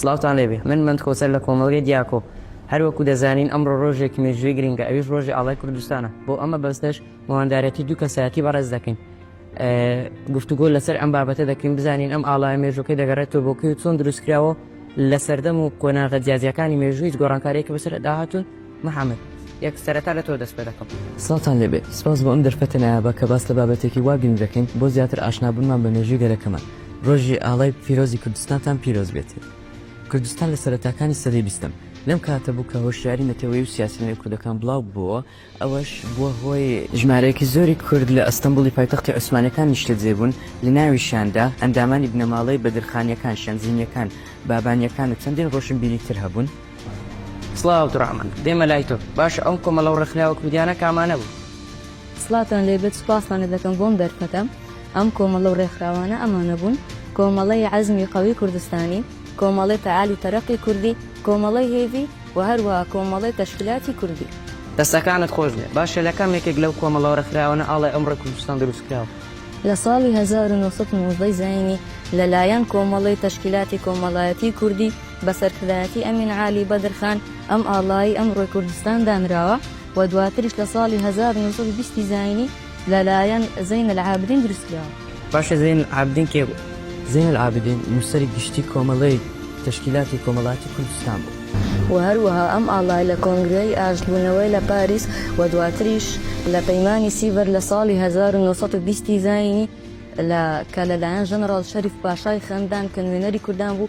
سڵاوتان لێبێ من مەند کۆچەر لە کۆمەڵگەی دیاکۆ هەر وەکو دەزانین ئەمڕۆ ڕۆژێکی مێژووی گرینگە ئەویش ڕۆژی ئاڵای کوردستانە بۆ ئەمە بەستەش مواندارێتی دوو کەسایەتی بەڕێز دەکەین گفتوگۆ لەسەر ئەم بابەتە دەکەین بزانین ئەم ئاڵای مێژوەکەی دەگەڕێتەوە بۆکەی و چۆن دروستکراوە لە سەردەم و قۆناغە جیاجیەکانی مێژوویت گۆڕانکارێکی بەسەر داهاتون محمد یەک سەرەتا لە تۆ دەست پێ دەکەم. سڵاوتان لێبێت، سپاس بۆ ئەم دەرفەتە نایابە کە باس لە بابەتێکی وا گرنگ دەکەین بۆ زیاتر ئاشنابوونمان بە مێژووی گەلەکەمان. ڕۆژی ئاڵای پیرۆزی کوردستانتان پیرۆز بێت. کوردستان لە سەرەتاکانی سەدەی بیستەم لەم کاتە بوو کە هۆشیاری نەتەوەیی و سیاسی لە نێو کوردەکان بڵاو ببۆوە، ئەوەش بووە هۆی، ژمارەیەکی زۆری کورد لە ئەستەنبوڵی پایتەختی عوسمانیەکان نیشتەجێ بوون، لە ناویشیاندا ئەندامانی بنەماڵەی بەدرخانیەکان، شەمزینیەکان، بابانیەکان و چەندین ڕۆشنبیری تر هەبوون. سڵاو دڕامن دێمە لای تۆ باشە ئەو کۆمەڵەو ڕێکخراوە کوردیانە کامانە بوو. سڵاتان لێبێت سوپاستان لێدەکەم بۆم دەرفەتەم ئەم کۆمەڵە و ڕێکخراوانە ئەمانە بوون کۆمەڵەی عەزمی قەوی کوردستانی کۆمەڵەی فەعال و تەرەقی کوردی کۆمەڵەی هێڤی و هەروەها کۆمەڵەی تەشکیلاتی کوردی. دەستەکانت خۆش بێ باشە لە کام یەکێک لەو کۆمەڵەو ڕێکخراوانە ئاڵای ئەمڕۆی کوردستان دروست کراوە؟ لە ساڵی هەزار و نۆ سەد و نۆزدە ی زایینی لە لایەن کۆمەڵەی تەشکیلاتی کۆمەڵایەتی کوردی، بە سەرکردایەتی ئەمین عالی بەدرخان ئەم ئاڵای ئەمڕۆی کوردستان دانراوە و دواتریش لە ساڵی هەزار و نۆ سەد و بیست ی زایینی لەلایەن زەین العابدین دروست کراوە. باشە زەین العابدین کێ بوو؟ زەین العابدین نووسەری گشتی کۆمەڵەی تەشکیلاتی کۆمەڵایەتی کوردستان بوو. و هەروەها ئەم ئاڵای لە کۆنگرەی ئاشتبوونەوەی لە پاریس و دواتریش لە پەیمانی سیڤەر لە ساڵی هەزار و نۆ سەد و بیست ی زایینی لە کە لەلایەن ژەنەڕاڵ شەریف پاشای خەندان کە نوێنەری کوردان بوو،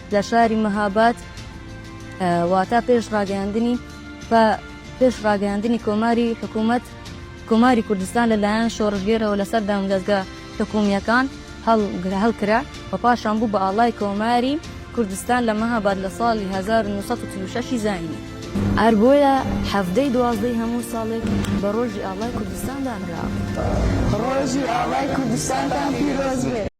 لە شاری مەهاباد واتا پێش ڕاگەیاندنی بە پێش ڕاگەیاندنی کۆماری حکوومەت کۆماری کوردستان لەلایەن شۆڕژگێرەوە لەسەر دامدەزگە حکومیەکان هەڵکرا و پاشان بوو بە ئاڵای کۆماری کوردستان لە مەهاباد لە ساڵی 1936 زایینی هەر بۆیە حەڤدەی دوازدەی هەموو ساڵێک بە ڕۆژی ئاڵای کوردستان دانرا. ڕۆژی ئاڵای کوردستانتان پیرۆز بێت.